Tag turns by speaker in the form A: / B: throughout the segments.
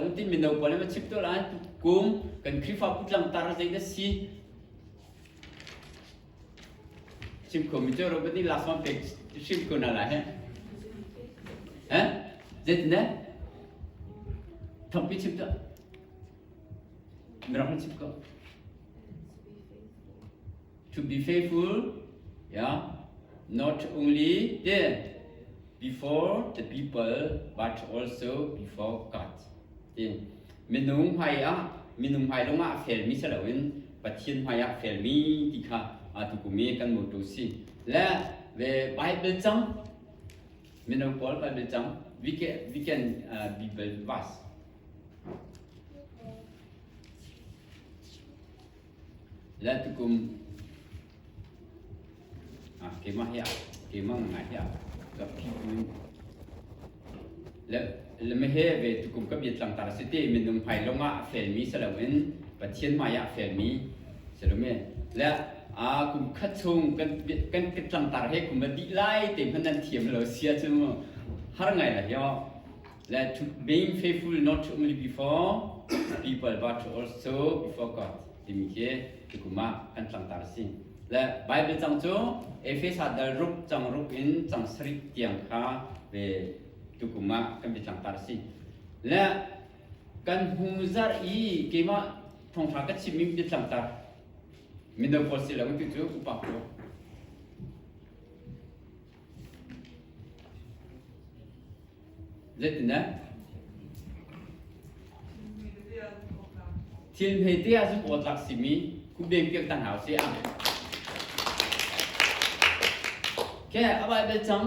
A: kan tin mino pawl nih chip to lai kum kan khrifa putlang tar zei da si sim ko mi cho robot ni last one page sim ko na la he eh zet ne thappi chip to mira chip ko To be faithful, yeah, not only then, before the people, but also before God. Tin, minung hmai ah, minung hmai lung ah fel mi selo in, pathian hmai ah fel mi ti kha atu kumi kan mo to si. Le, ve Bible chang, minung Paul Bible chang, we can, we can uh, be verse. le tukum ah keimah hi keimah ngai hi ka phih min le lemi he ve tukum ka bia tlang tar si ti minung phai lung ah fel mi si loin pathian mai ah fel mi si lo me le a kum khat chung kan kan kan tlang tar he kum a dih lai te hman nan thiam lo sia chu har ngai la hiao Let being faithful not only before people but also before God timi khi tukum ah kan tlangtar si. Le Bible cang cu Efesa dal ruk cang ruk in cang sarih tiang kha ve tukum ah kan bi tlangtar si. Le kan hmu zar i keimah thongthra ka chimmi bi tlangtar. Mindo paul si lo tu cu upa ko. Zeitindah? Thil hmete ah cun awtlak simi khumdem piak ta hna usih. Amen. Okay, a Bible cang.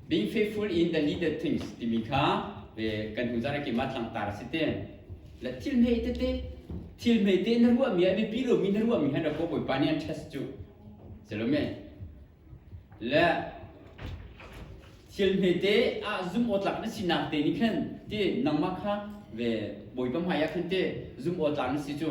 A: Being faithful in the leader things timi kha kan hnu zarah keimah tlangtar a si te. La thil hme tete thil hme te na ruahmi a biapi lomi na ruahmi han ra ko Bawipa nih an test cu. Salome. La thil hme te a zum awtlak na sinak te ni khan te nangmah kha ve Bawipa hmai ah khan te zum awtlak na si cu.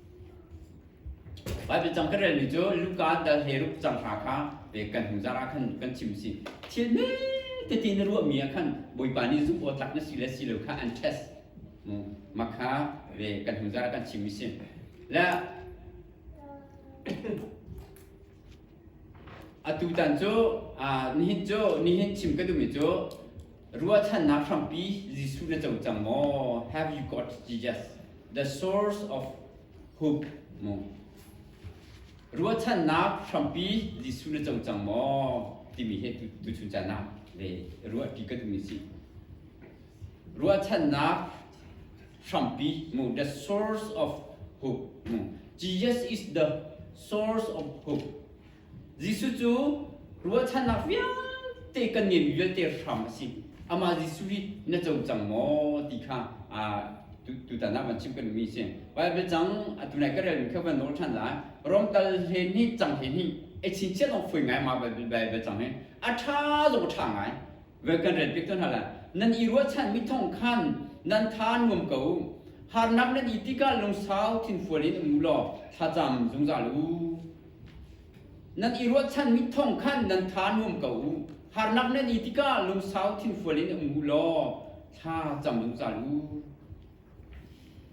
A: Baibal cang kan relmi cu Luka dal hleiruk cang hna kha kan hnuzaar ah khan kan chim si. Thil tete na ruahmi ah khan Bawipa nih zumh awk tlak na si le si lo kha an test. Mah kha ve kan hnuzaar ah kan chim si. Le atu tan cu nihin cu nihin chim ka duhmi cu Ruahchannak hrampi Jesuh na co cang maw? Have you got Jesus, the source of hope? Mu. Ruahchannak hrampi Jesuh na co cang maw? timi he tuchun canak le ruahti ka tumi si. Ruahchannak hrampi mu the source of hope mu. Jesus is the source of hope. Jesuh cu ruahchannak vialte kan ngeih vialte hram a si. Amah Jesuh hi na co cang maw ti kha tutan ah van chim kan mi si. Baibal cang atu nai ka relmi kha van nawl ṭhan lai. Rom tal hle nih cang hle nih e chinchiah long foi ngai ma Baibal Baibal cang hi a ṭha zong ṭha ngai. Ve kan rel piak ton hna lai. Nan i ruahchan mi thong khan nan tha nuam ko. Harnak nan i tikah lungsau thinfual in um u law thlacam zungzal u. Nan i ruahchanmi thong khan nan tha nuam ko u. Harnak nan i tikah lungsau thinfual in um u law thla cam zungzal u.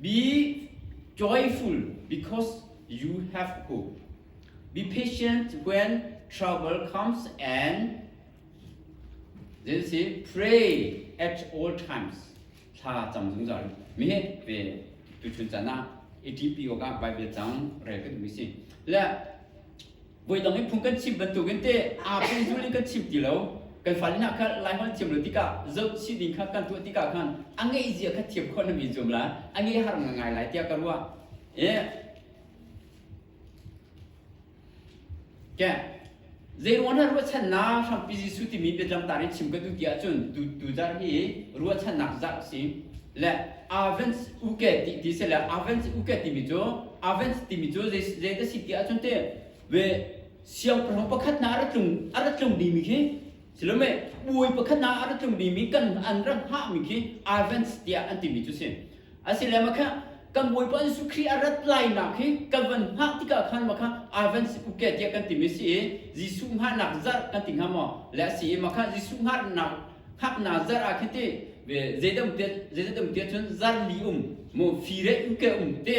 A: Be joyful because you have hope. Be patient when trouble comes and then say pray at all times. thla cam zungzal mi he ve tu chun chan ah ATP ko ka bai ve cang re kan mi si le voi dang in phung kan chim bantuk in te a pung zuli kan chim ti lo kan fali na kha lai hol chiam lo tikah zoh si ding kha kan tuah tikah khan a ngeih zia kha thiam khon mi zum la a ngeih har ngai lai tiah ka ruah eh Ke zeiruang na ruahchannak hrampi Jesuh timi biatlang tar i chim ka duh ti ahcun tu tu zarh hi ruahchannak zarh si le Advent uke ti ti si le Advent uke timi cu Advent timi cu zei ta si ti ahcun te we siangpahrang pakhat hna a ra tlung a ra tlung dimi khi Silome bawi pakhat ah a rat tlungmi mi kan an rak hngahmi khi Advents tiah an timi cu si. Asilem a kha kan bawipa Jesuh Khrih a rat lainak hi kan van hngah tikah khan makha Advents kuke tiah kan timi si i Jesuh hngahnak zarh kan ti hnga maw le a si i makha Jesuh hngahnak hngaknak zarh ah khiti zeidaumte zeidaumte cun zarh li um mu fire uke um te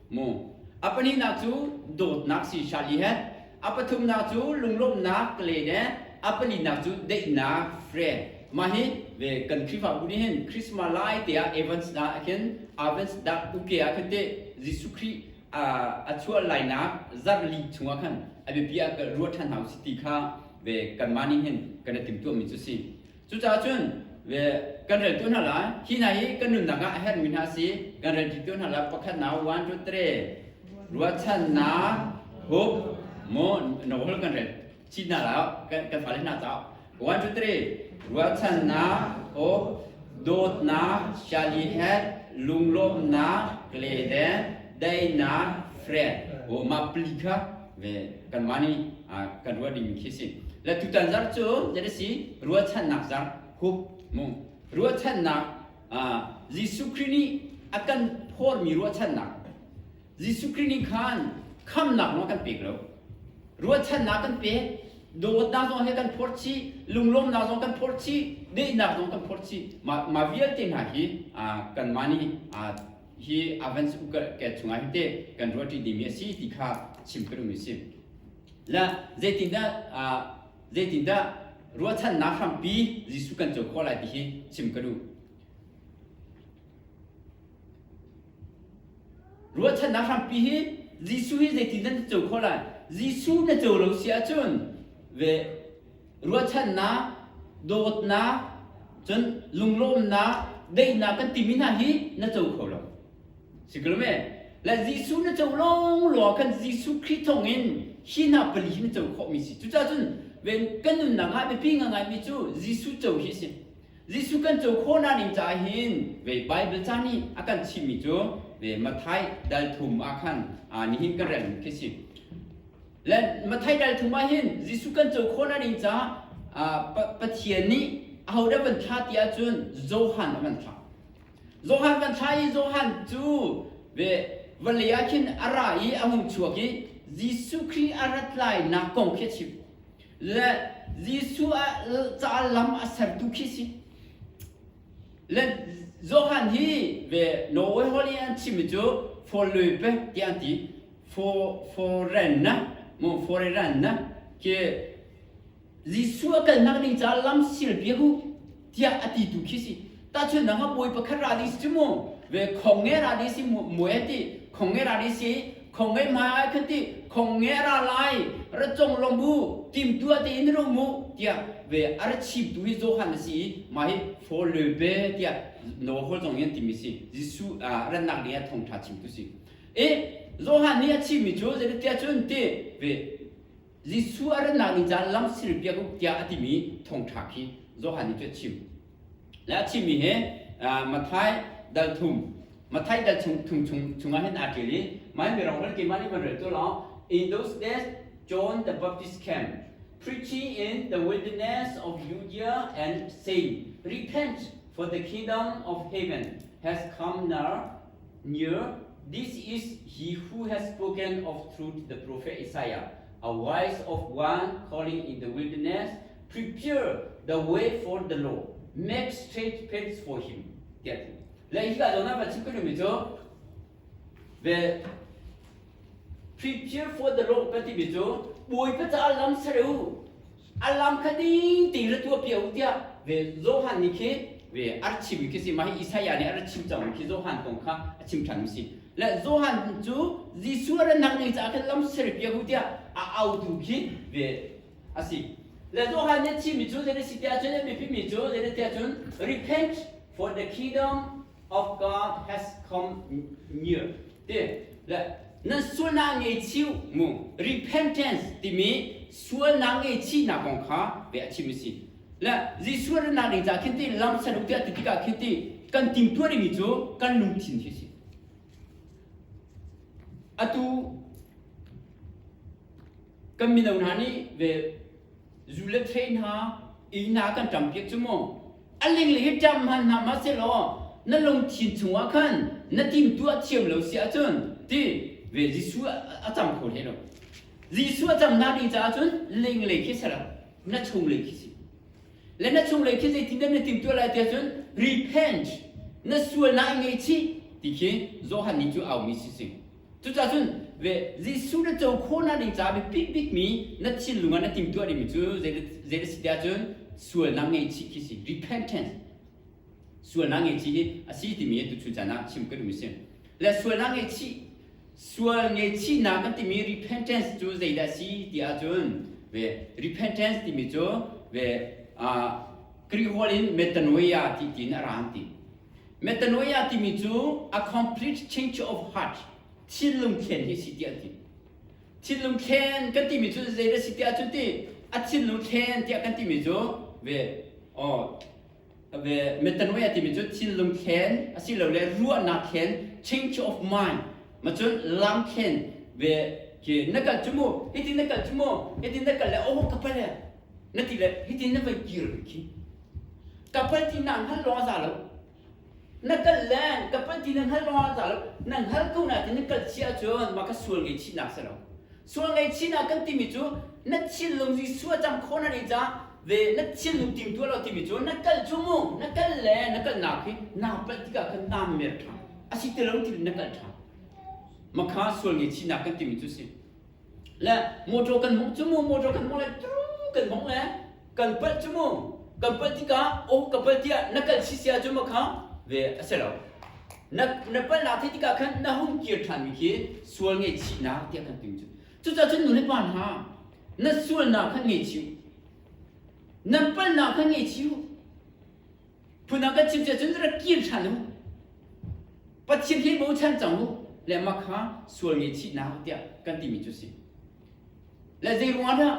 A: mu a pahnihnak cu dawtnak si shal i het a pathumnak cu lunglawmhnak len e a pahnihnak cu deihnak friend mah hi ve kan khrihfabu nih hin christmas lai te ah events na khin avents dak uke ah khin te jesuh khrih a chuah lainak zarli chungah khan a biapi ah ruah ṭhan hau si ti kha ve kanmah nih hin kan i timtuahmi cu si Cucaah cun kan reltu hna lai hi hna hi kan nunnak ah a herhmi hna si kan relṭitu hna lai pakhatnak one two three ruahchannak hup mu nawl kan rel chin hna lai kan fale hna caah one two three ruahchannak hup dawtnak shall he had lunglawmhnak gleden daihnak friend huhma pali kha ve kanmah nih kan ruah ding khi si la tutan zarh cu zasi ruahchannak zarh hup mu ruahchannak Jesuh Khrih nih a kan phormi ruahchannak Jesuh Khrih nih khan khamnak zong kan pek lo ruahchannak kan pek dawtnak zong he kan phorchi lunglawmnak zong kan phorchi deihnak zong kan phorchi ma vialte hna hi kanmah nih hi avans ukalh ke chungah hi te kan ruah ṭi dimi a si ti kha chim ka duhmi si. La zeitindah zeitindah ruahchannak hrampi Jesuh kan co khawh lai ti hi chim ka duh. Ruahchannak hrampi hi Jesuh hi zeitindah na co khawh lai? Jesuh na co lo si ahcun ve ruahchannak, dawtnak, cun lunglawmnak, deihnak kan timi hna hi na co kho lo. Si ko me? Le Jesuh na co lawngluang kan Jesuh Khrih thawng in hi hna pali hi na co khawhmi si. Cucaah cun kan nunnak ah biapi ngaingaimi cu Jesuh co hi a si. Jesuh kan co khawh naning caah hin ve Baibal ca nih a kan chimmi cu ve Matthai dal thum ah khan aa nihin kan relmi khi a si. Mathai ṭal thum ah hin Jesuh kan co khawh na ding caah Pathian nih ahodah van thlah ti ahcun Johan a van thlah. Johan van thlah i Johan cu vale ah khin a ra i a hung chuak i Jesuh Khrih a rat lainak kong khi a chim. Le Jesuh a ca lam a sertu khi si. Johan hi ve Norway Holy an chimmi cu forlui pek ti an ti foreign na mu foreign na ke Jesuh a kalnak ning ca lam sil bia hu tiah a ti tu khi si tahchun nang a bawi pakhat ra di si mu ve khong nge ra di si mu ti khong nge ra di si khong ngei hmai ai khan ti khong nge ra lai ra cong long bu tim tua te in ro mu tiah ve ar chim tu hi Johan a si i mai fo le be tiah no hol zong in timi si Jesu rannak ni a thong tha chim tu si e Johan ni a chim mi cu zeritia cun ti ve Jesuh a ranlakmi caan lamsir piak u tiah a timi thongṭha khi Johan nih cu a chim. Le a chimmi hi Matthai dal thum Matthai dal chung, thum chung chungah hin aa ṭial i mai mi rawhral keimah nih van rel tu law in those days John the Baptist came preaching in the wilderness of Judea and saying repent for the kingdom of heaven has come near Near this is he who has spoken of truth the prophet Isaiah a wise of one calling in the wilderness prepare the way for the law make straight paths for him tiatu le hi ka dona ba chim kanu mi chu ve prepare for the law pa ti mi chu bui pa cha lam sare u A lam kha ding tein ra tuah piak u tiah ve Johan nih khi ve a rak chim mi khi si mah hi Isaiah nih a rak chim cang mi khi Johan kong kha a chim ṭhan mi si le Johan cu Jesuh a rak nak ning caah khan lam ser piak u tiah a autu khi ve a si le Johan nih a chim mi cu zei a si tiah cun a biapi mi cu zei tiah cun repent for the kingdom of God has come near ti le na sualnak ngeichiu mu repentance timi sualnak ngeichihnak kong kha ve a chim si le Jesuh ran nak ning ca khin ti lam saluk ti ti tikah khin ti kan timtuar mi cu kan lungthin khi si atu kan mino hna nih ve zu le train ha ina kan tam piak chu mu a lingli hi ṭam hman hna ma selaw na lungthin chungah khan na timtu a thiam lo si ahcun ti ve Jesuh a cam kho hlei lo Jesuh a cam hna ding caah cun linglei khi sela na chunglei khi si le na chunglei khi zeitindah na timtuah lai ti ahcun repent na sual na i ngaihchih ti khi Johan nih cu aumi si sing Cucahcun Jesuh na co khawh hna ding caah biapit bikmi na thinlung ah na timtuah dingmi cu zeidah si tiah cun sualnak ngeichih khi si repentance sualnak ngeichih hi a si timi hi tuchun caan ah chim ka duhmi si le sualnak ngeichih sual ngeichihnak kan timi repentance cu zeidah a si ti ahcun ve repentance timi cu ve Greek holh in metanoia ti tiin a ra an ti Metanoia timi cu a complete change of heart thinlung thlen hi si tiah ti. Thinlung thlen kan timi cu zeidah si tiah cun ti a thinlung thlen tiah kan timi cu ve oh ve metanoia timi cu thinlung thlen asilole ruahnak thlen change of mind macun lam thlen ve ke na kal cu mu hiti na kal cu mu hiti na kal le oh ka pale na ti le hitin na voi kir ve khi ka palti na hngal lawng a za lo na kal le ka palti na hngal lawng a za lo na hngal ko na tin kal chi ahcun ma ka sual ngei chihnak si lo sual ngei chihnak kan timi cu na thillung Jesuh a cang khawna ri ca ve na thillu tim tua lo timi cu na kal cu mu na kal le na kalnak hi na palh tikah khan na mer tha a si ti lo ti na kal tha makha sual ngei chihnak kan timi cu si le motor kan hmuh cu mu motor kan hmuh le curu kan hmuh le kan palh cu mu kan palh tikah aw ka palh tiah na kal si sia cu makha ve a si lo na na palh lak thei tikah khan na hung kir ṭhanmi khi sual ngaihchihnak tiah kan ti cu cucacun nu le pa hna na sualnak kha ngei chih u nan palhnak kha ngei chih u phun ah kan chim cu cun ra kil hral u pathian hi bochan cang u le mah kha sual nge chih na hau tiah kan timi cu si le zeiruang ah dah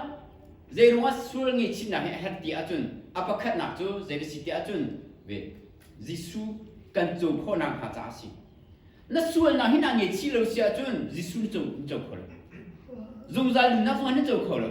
A: zeirung ah sual nge chimnak hi a herh ti ahcun a pakhatnak cu zei si ti ahcun ve Jesuh kan co khawhnak hnga caah a si na sualnak hi na nge chih lo si ahcun Jesuh na co kho lo zungzal nunnak zong na co kho lo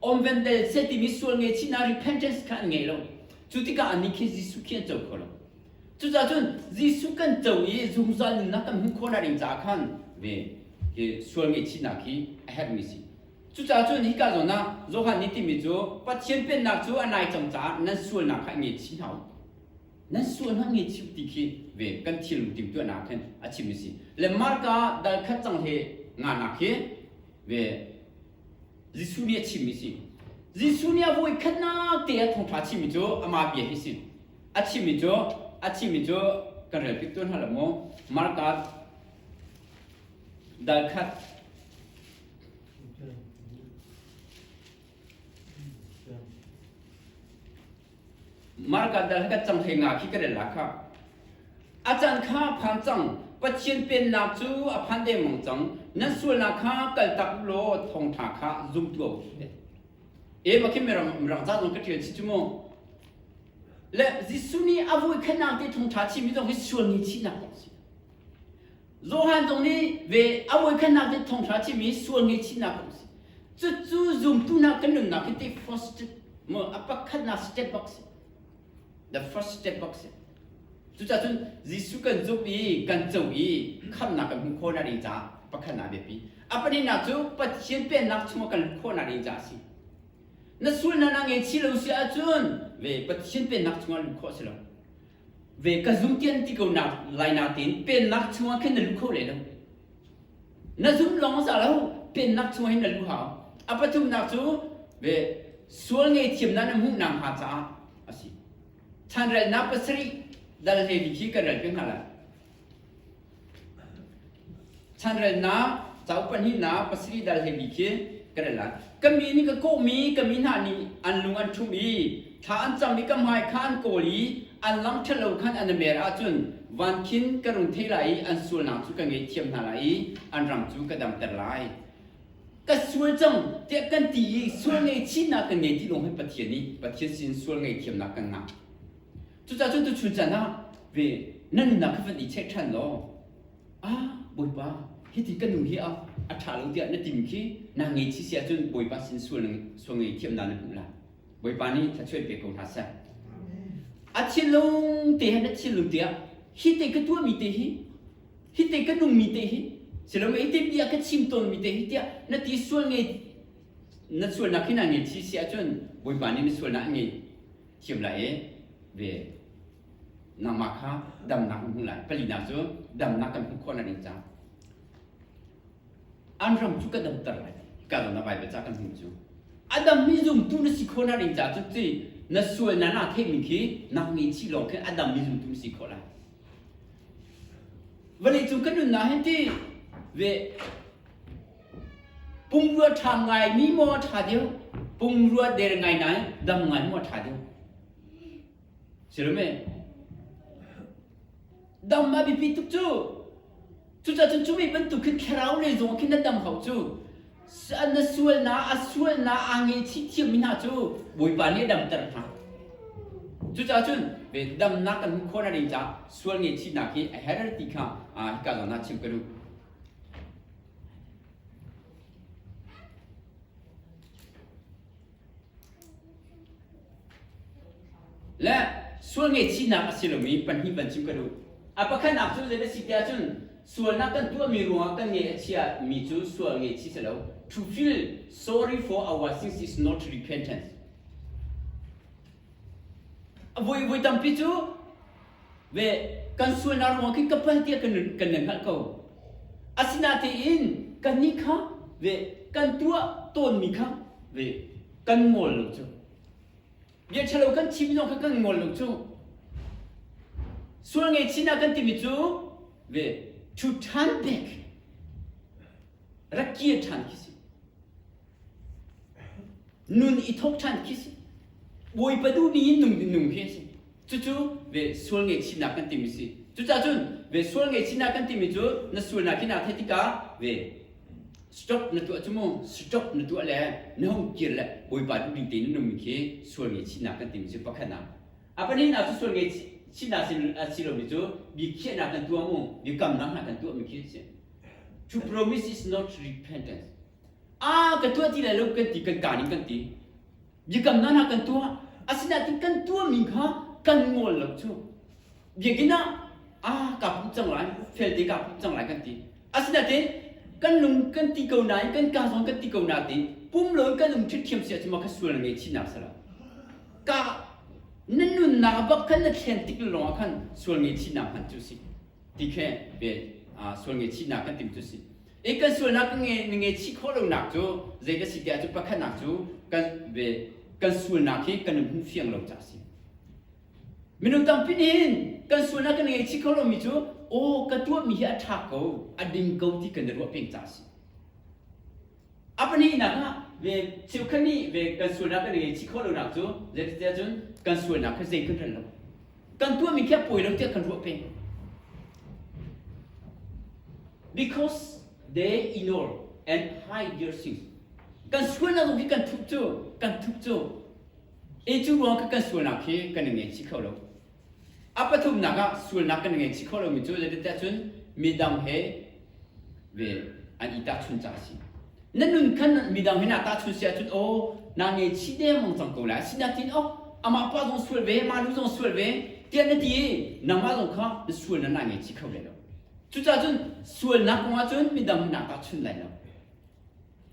A: Om Vente Set timi sual ngeihchihnak repentance kha an ngei lo. Cu tikah anih khi Jesuh khi an co kho lo. Cucaah cun Jesuh kan co i zungzal nunnak kan hmuh khawhnak ding caah khan ve hi sual ngeihchihnak hi a herhmi a si. Cucaah cun hika zawn ah Johan nih timi cu Pathian pennak cu a nai cang caah nan sualnak kha i ngaihchih hna u. Nan sualnak ngaihchih u ti khi ve kan thilnung timhtuahnak khan a chim a si. Le Marka dal khat cang he nganak hi ve Jesuh nih a chimmi a si. Jesuh nih a voikhatnak te a thawngṭha chimmi cu amah bia hi a si. A chimmi cu a chimmi cu kan rel pik tuan hlah lo mu. Markat dal khat Marka dal he kan cang he nga khi ka rel la kha. A can kha phan cang Pathian pennak cu a phan dengmang cang nan sualnak kha kaltak law thawngtha kha zum tuah u ti ema khi mirang mirang zat zong ka tial chi chu mu le Jesuh nih a vui khanang te thongtha chi mi zong hi sual ni chi nak a si Johan zong nih ve a voikhatnak cu thonghra cimi sual ngeichihnak a um si. Cucu zumtunak kan nunnak hi ti first step a pakhatnak step bak si. The first step bak si. Cucah cun Jesuh kan zumh i kan co i khamhnak kan hmuh khawhnak ding caah pakhatnak a biapi. A pahnihnak cu Pathian pennak chungah kan lut khawhnak ding caah a si. Na sual na na ngeichih lo si ahcun ve Pathian pennak chungah lut khawh a si lo. ve ka zum tian ti ko lai natin pennak chungah khin na lu kho le lo na zum lawng za lo pennak chungah hin na lu hau a pathumnak cu ve sual nge thiamna na hmuh na hnga caah asi chanrelnak pasarih dal hleli khi kan rel pe hna lai chanrelnak cauk pahnihnak pasarih dal he bi khi ka rel lai ka mi nih ka kawhmi ka mi hna nih an lung an ṭhum i thla an cam i ka hmai kha an kawl i an lang ṭhat lo khan an mer ahcun van khin ka rung thei lai i an sualnak cu ka ngeihthiam hna lai i an rang cu ka damter lai ka sual cang tiah kan ti i sual ngaichihnak kan ngei ti lawng hi pathian i pathian sin sual ngaithiamnak kan ngah Cucaah cu tuchun can ah ve na nunnak kha van i check ṭhan law ah Bawipa hiti ka nu hi a a ṭha lo tiah na tim khi na ngeichih si ahcun Bawipa sin sual na sual ngaihthiam na na hmuh lai. Bawipa nih thluachuah pe ko hna seh. A thinlung te he na thinlung te ah hi te ka tuahmi te hi hi te ka nungmi te hi siloma hi te bia ka chim tawnmi te hi tiah na ti sual ngei na sualnak khi na ngeichih si ahcun Bawipa nih na sualnak a ngei thim lai i ve nangmah kha damnak na hmuh lai palinak cu damnak kan hmuh khawh lai ding caah an ram cu ka damter lai ka dam na Baibal ca kan hmuh cu a dammi zumtu na si khawh na ding caah cu ti na sual na na theihmi khi na ngeichih lawng khi a dammi zumtu na si khawh lai vale cu kan nunnak hi ti ve Pungrua ṭha ngaimi maw ṭha deuh, pungrua der ngai nai dam ngai maw ṭha deuh. Sirum e. Dam a biapi tuk cu. Cucacun cu mei bantuk khin thlarau le zong khin na dam hau cu. Na sualnak, a sualnak aa ngehchih thiammi hna cu Bawipa nih a damter hna. Cucacun damnak kan hmuh khawh na ding caah sual ngaihchihnak hi a her ti kha hika zawn ah chim ka duh. Le sual ngaihchihnak a si lomi pahnih van chim ka duh. A pakhatnak cu zeidah si tiah cun sualnak kan tuahmi ruangah kan ngeih a chiami cu sual ngaihchih si lo. To feel sorry for our sins is not repentance. Avoi tampi cu ve kan sualnak ruang khi ka pal tiah kan kan le hngalh ko. Asinatein kannih kha ve kan tuah tawnmi kha ve kan ngol lo cu. Bia ṭhalo kan chim zong kha kan ngol lo cu. Sual ngaihchihnak kan timi cu ve ṭhu ṭhan bik, ra kir ṭhan khi si. Nun i thawk ṭhan khi si. Bawipa duhmi in nung nung khi a si. Cucu ve sual ngaihchihnak kan timi si. Cucahcun ve sual ngaihchihnak kan timi cu na sualnak hi naa theih tikah ve stop na tuah cu mu stop na tuah le na hung kir le Bawipa duhning tein na nungmi khi sual ngaihchihnak kan timi cu pakhatnak. A pahnihnak cu sual ngaihchihnak a si lomi cu bia khiahnak kan tuah mu, bia kamnak hna kan tuahmi khi a si. To promise is not repentance. a kan tuah ti lai lo kan ti kan kaan in kan ti biakam hna hna kan tuah asinain kan tuahmi kha kan ngol lo cu biakinn ah a kaa pumh cang lai felte kaa pumh cang lai kan ti asinain kan lung kan ti ko nain kan kaa zong kan ti ko na te pum loin kan um ṭhiṭhiam si ahcun mah kha sual na ngei chinnak salo ka na nunnak bak khan na thlen tik lawngah khan sual ngei chinnak hman cu si ti khe ve sual ngei chinnak kan tim cu si I kan sualnak na ngeichih khawh lonak cu zei ka si ti ahcun pakhatnak cu kan ve kan sualnak hi kan hmuh fiang lo ca a si. Minung tampi nih kan sualnak kan ngeichih kho lomi cu aw ka tuahmi hi a ṭha ko a ding ko ti kan i ruah peng ca a si. A pahnihnak ah ve cheukhat nih ve kan sualnak kan ngeichih khawh lonak cu zeiti ahcun kan sualnak kha zeihmanh rel lo kan tuahmi khi a pawi lo tiah kan ruah peng. Because they ignore and hide their sins. Kan sualnak zong hi kan thup cu, kan thup cu. E cu ruang kan sualnak hi kan i ngeichih kho lo. A pathumnak ah sualnak kan i ngeichih kho lomi cu zeitintiah cun midang he ve an i tahchun cang a si na nun khan midang hin a tahchun si ahcun aw na ngeichih dengmang cang ko lai asinain aw amah pa zong sual ve ma lu zong sual ve tiah na ti i nangmah zong kha na sual nan na ngeichih kho lai lo cucaah cun sualnak kongah cun midang hin a tahchun lai lo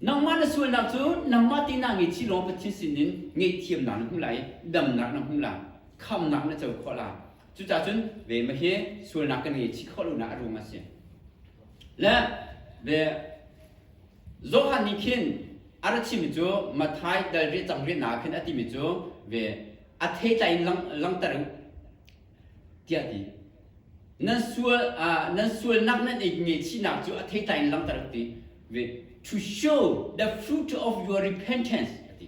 A: nangmah na sualnak cu nangmah te na ngeichih lawng Pathian sinin ngeihthiamnak na hmu lai damnak na hmu lai khamnak na co khawh lai Cucacun ve ma hi sualnak kan ngei chih khawh lonak a rum a si. Le ve Johan nih khin a ra chimmi cu Mathai dal rih cang rihnak khin a timi cu ve a theitla in langter u tiah ti nan sual nan sualnak nan i ngeichihnak cu a theitla in langter u ti ve to show the fruit of your repentance a ti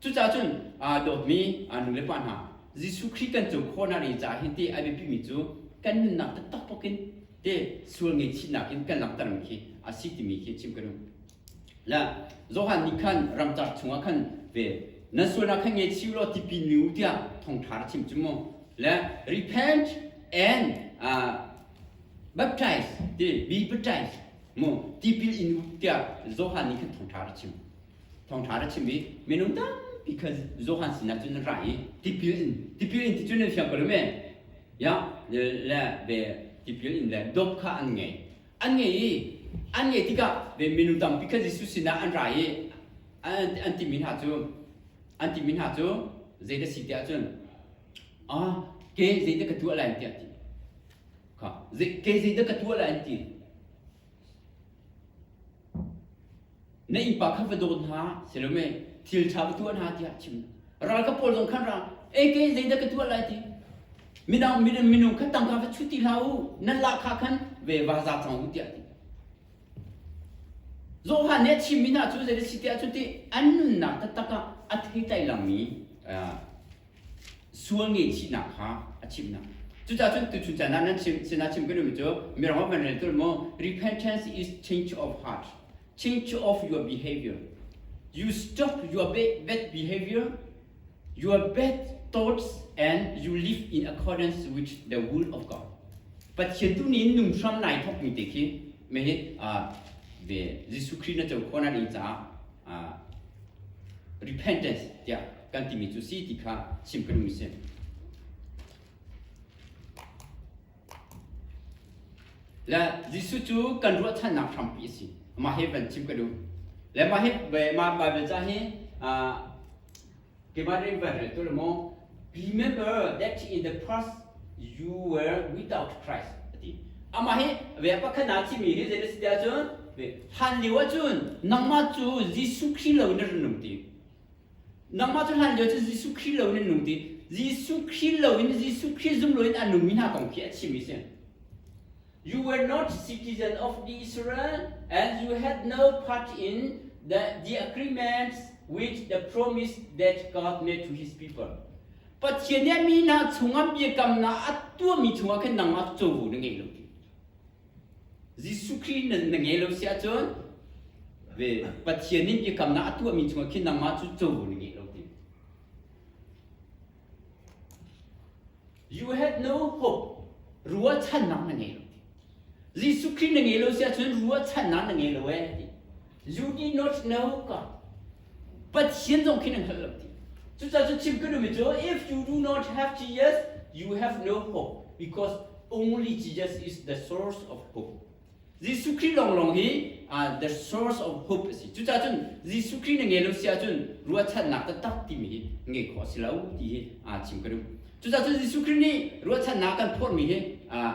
A: Cucaah cun aa dawtmi nu le pa hna, Jesuh Khrih kan co khawhnak ri caah hin ti a biapimi cu kan nunnak taktak pokin te sual ngaihchihnak in kan langhtermi khi a si timi khi chim ka duh. Le Johan nih khan ramcar chungah khan ve nan sualnak kha ngei chih law tipil mi u tiah thongṭha ra chim cu mu. Le repent and uh, baptize ti be baptized mu tipil in u tiah Johan nih khan thongṭha ra chim. thawngṭha rak chim i minung tampi kha Johan sinah cun an ra i tipil in tipil in ti cun an siang ko lem e ya le ve tipil in le dop kha an ngei an ngei i an ngei tikah ve minung tampi kha Jesuh sinah an ra i an timi hna cu an timi hna cu zeidah si tiah cun ah ke zeidah ka tuah lai tiah ti kha ke zeidah ka tuah lai an ti Na innpa kha va daw hna, Salome, thil ṭha ka tuah hna tiah a chim. Ralkap pawl zong khan ra, e ke zeidah ka tuah lai ti. Minang minung kha tangka va chut ti hlah u, nan lah kha khan ve va za cang u tiah ti. Zoha nih a chimmi hna cu zeidah si tiah cu ti an nunnak taktak ah a theitlai langmi sual ngehchihnak kha a chimhnak. Cucaah cun tuchun caan ah nan chim sinah chim kan duhmi cu mirang man rel tul maw repentance is change of heart change of your behavior you stop your bad behavior your bad thoughts and you live in accordance with the will of God Pathian tu nih nung hram nai thok mi te khi me hi ve Jesuh Christ na co khona ding ca repentance tiah kan timi cu si ti kha chim ka duhmi si. Le Jesuh cu kan ruahchannak hrampi a si. Mah hi van chim ka duh. Le mah hi mah Bible ca hi keimah rin van rel tu le maw remember that in the past you were without Christ ati amah hi ve pakhat na chimi hi zenes ti ahcun hlan lio ahcun nangmah cu Jesuh Christ lo in run um ti Nangmah cu hlan lio cu Jesuh Khrih lo in an nung ti. Jesuh Khrih lo in Jesuh Khrih zung lo in an nungmi hna kong khi a chim i si. You were not citizens of Israel and you had no part in the, the agreements which the promise that God made to his people. Pathian nih mi hna chungah biakamnak a tuahmi chungah khan nangmah cu covo na ngei lo ti. Jesuh Khrih nan na ngei lo si ahcun ve Pathian in biakamnak a tuahmi chungah khin nangmah cu covo na ngei lo ti. You had no hope. Ruahchannak na ngei lo. Jesuh Khrih na ngei lo si ahcun ruahchannak na ngei lo eh. You did not know God. Pathian zong khi nan hngalh lo ti. Cucaah cu chim ka duhmi cu if you do not have Jesus you have no hope because only Jesus is the source of hope. Jesuh Khrih lawnglawng hi uh, the source of hope a si. Cucaah cun Jesuh Khrih na ngai lo si ahcun ruahchannak taktak timi hi ngai khawh a si lo ti hi uh, chim ka duh. Cucaah cun Jesuh Khrih nih ruahchannak kan phorhmi hi uh,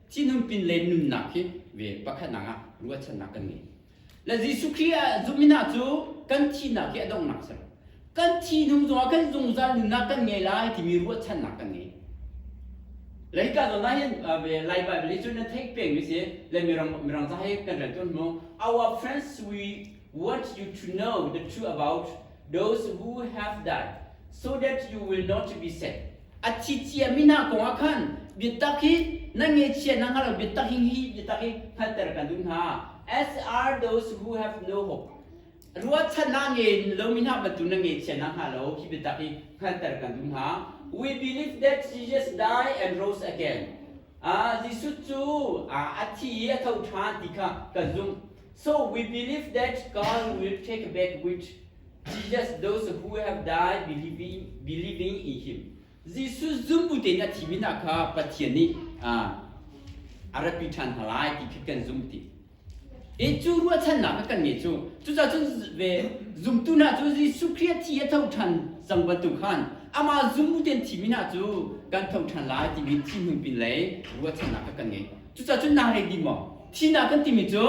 A: Cinam pin le nunnak hi ve pakhatnak ah ruahchannak kan ngei. Le Jesuh Khrih ah zumina cu kan thihnak hi a donghnak a si. Kan thi hnu zongah kan zungzal nunnak kan ngei lai timi ruahchannak kan ngei. Le hika zawn ah hin Lai Bible hi cu nan theih pengmi si le Mirang mirang ca hi kan rel tawn mu. Our friends we What you to know the truth about those who have died, so that you will not be sad. A thi chia mi na kong ah khan biatak hi na nge chia na ngalo biatak hi hi biatak hi hngalter kan dun ha. As are those who have no hope. Rua chan na nge lo mi na batu na nge chia na hnga lo hi biatak hi hngalter kan dun ha. We believe that Jesus died and rose again. Jesuh cu a thi i a tho ṭhan ti kha ka zumh. So we believe that God will take back which Jesus those who have died believing believing in him. Jesuh zumbu tein a thimi hna kha Pathian nih a ratpi ṭhan hna lai ti khi kan zumh ti. I cu ruahchannak a kan ngeih cu cucaah cun ve zumtu hna cu Jesuh Khrih a thi a tho ṭhan cang bantuk khan amah zum u tein thimi hna cu kan tho ṭhan lai timi thinhung pin lei ruahchannak a kan ngeih. Cucaah cun naa redi maw? Thihnak kan timi cu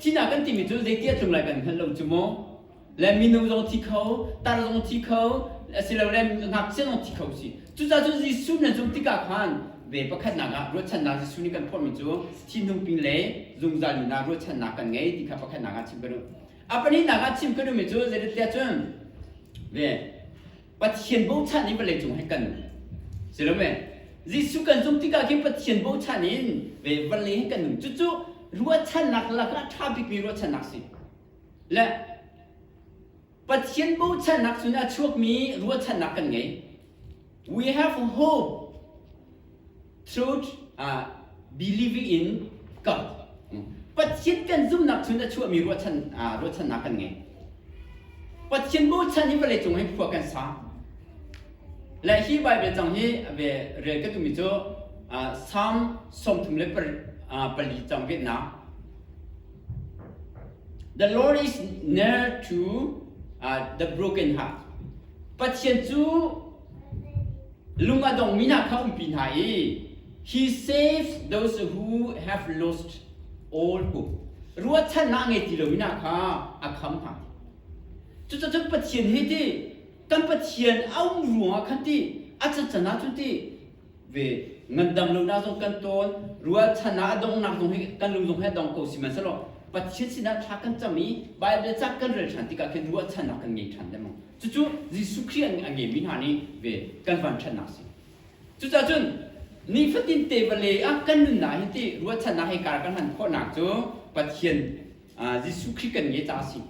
A: thihnak kan timi cu zei ti a tlung lai kan hngalh lo cu mu. le minung zong thi kho tar zong thi kho asilole ngakchia zong thi kho si cucaah Jesuh nan zumh tikah khan ve pakhatnak ah ruahchannak Jesuh nih kan phorhmi cu thinhung pin le zungzal nun ah ruahchannak kan ngei ti kha pakhatnak ah chim ka duh a pahnihnak ah chim ka duhmi cu zeitintiah cun ve Pathian bochan in vawlei cung he kan si lo ve Jesuh kan zumh tikah khin Pathian bochan in ve vawlei he kan nung cucu ruahchannak lakah ṭha bikmi ruahchannak si Le Pathian bochannak cun a chuakmi ruahchannak kan ngei. We have hope through uh, believing in God. Pathian kan zumnak cun a chuahmi ruahchan, uh, ruahchannak kan ngei. Pathian bochan hi vawlei cung hi khua kan sa. Le hi Bible cang hi ve rel ka tumi cu uh, Psalm sawmthum le par, uh, pali cang vet na The Lord is near to uh, the brokenhearted. Pathian cu lung a dongmi hna kha umpi hna i He saves those who have lost all hope. Ruahchannak ngei ti lomi hna kha a kham hna. Cucacun Pathian hi ti kan Pathian a um ruangah khan ti a caccan ahcun ti ve ngandam lonak zong kan tawn rualchan ah a donghnak zong hi kan lung zong hi a dong ko sihmanhsehlaw pathian sinah thla kan cam i bible ca kan rel ṭhan tikah khin ruahchannak kan ngei ṭhan dengmang cucu jesuh khrih a ngeimi hna nih ve kan vanṭhatnak si cucahcun nifatin te vale ah kan nunnak hi ti ruahchannak he kar kan hman khawhnak cu pathian jesuh khrih kan nge caah si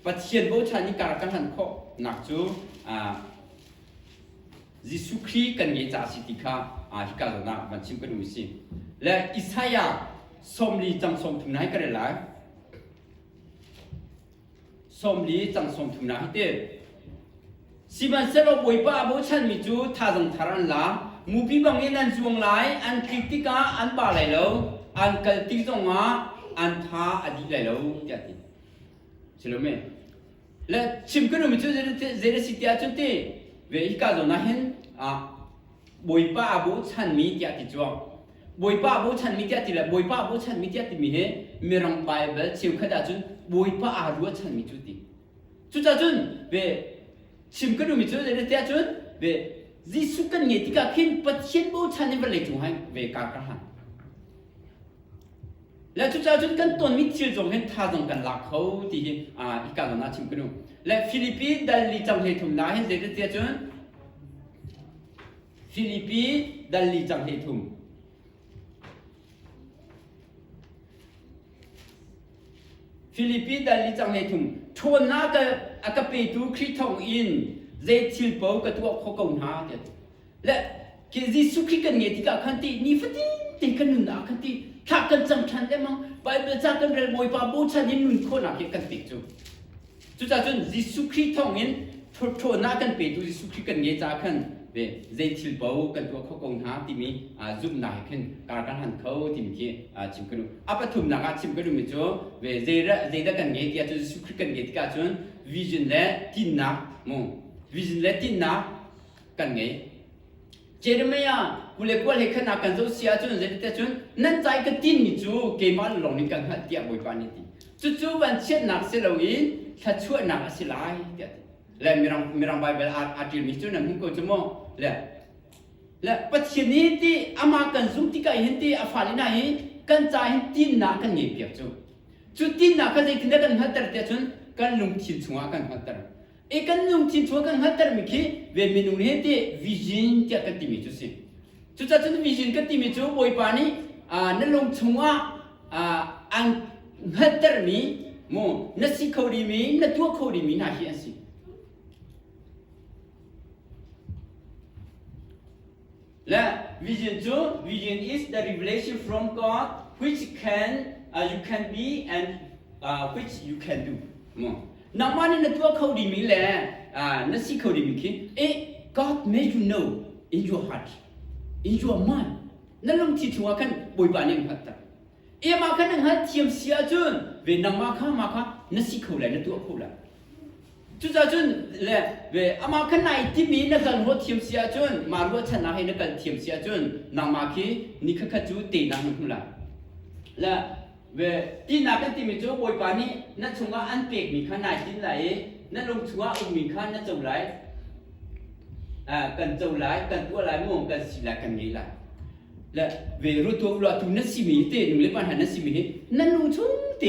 A: pathian bochan i kar kan hman khawhnak cu Jesuh Khrih kan ngeih ca a si ti kha hika zawn ah van chim kan u si. Le Isaiah sawmli cang sawmthum na hi ka rel lai. Sawmli cang sawmthum na hi te. Sihmanhsehlaw Bawipa a bochanmi cu thazang thar an la. Mupi bangin an zuang lai, an tlik tikah an ba lai lo, an kal tik zongah an tha a dih lai lo, tiah ti. Si lo me? Le chim kan umi cu zei na si ti ahcun ti ve hika zawn ah hin Bawipa a bochanmi tiah ti cuang Bawipa a bochanmi tiah ti le Bawipa a bochanmi tiah timi hi Mirang Baibal cheukhat ahcun Bawipa aa ruahchanmi cu ti cucacun ve chim kan umi cu zei ti ahcun ve Jesuh kan ngeih tikah khin Pathian bochan in vawlei cung hai ve kaa ka han Le cucaah cun kan tonmi thil zong hin thazang kan lak kho ti hi i kalon ah chim kanu. Le Filipi dalli cang hlei thum na hin zeitete cun Filipi dalli cang hlei thum Filipi dalli cang hlei thum ṭhawnna ka a ka petu Khrih thawng in zei thil po ka tuah kho ko hna tiah le ke Jesuh khi kan nge tikah khan ti ni fatin te kan nunnak khan ti thla kan cam ṭhan lemang Bible ca kan rel bawipa bochan in nun khawhnak hi kan ti cu cucacun Jesuh Khrih thawngin ṭhawtṭhawnak kan petu Jesuh Khrih kan nge caah khan ve zei thil paoh kan tuah kho ko hna timi zumhnak he khin kar kan han kho timi khi chim kan a pathumnak ah chim kan ummi cu ve zeidah kan nge tiah cun Jesuh Khrih kan nge tikah cun vision le tinnak mu vision le tinnak kan ngei. Jeremiah kule kual he khan kan zoh si ahcun zeitiah cun nan cai ka tinmi cu keimah lawng nih kan hngalh tiah Bawipa nih a ti. Cucu vanchiatnak si loin thluachuahnak a si lai tiah a ti. Le mirang mirang Baibal aa aa ṭilmi cu nan hmuh ko cu maw? Le le Pathian i ti amah kan zumh tikah hin ti a fale hna hi kan ca hin tinnak kan ngei piak cu. Cu tinnak kha zeitindah kan hngalhter tiah cun kan lungthin chungah kan hngalhter. E kan nung chin chua kan hngalhtermi khi ve minung he te vision tiah kan timi cu si. Cucacun vision kan timi cu Bawipa nih na lung chungah an hngalhtermi mu na si kho rimi na tuah kho rimi hna hi an si. Le vision cu vision is the revelation from God which can uh, you can be and uh, which you can do. Nangmah nih na tuah kho dimi le uh, na si kho dimi khi eh God made you know in your heart in your mind na lungthi chunga kan boipa ning hat ta ema kan nang hat thiam sia cun ve nangma kha ma kha na si kho lai na tuah kho lai Cucacun le amah kan nai timi na hal ruah thiam si ahcun mah ruahchannak hi na kal thiam si ahcun nangmah khi ni khat cu teinak na hmu lai. Le ve tinak kan timi cu Bawipa nih na chungah an pekmi kha nai tin lai i na lung chungah ummi kha na co lai. kan co lai, kan tuah lai mu, kan si lai, kan ngei lai. Le ve rutua uluatu na simi te nu le van ha na simi hi na lung chung te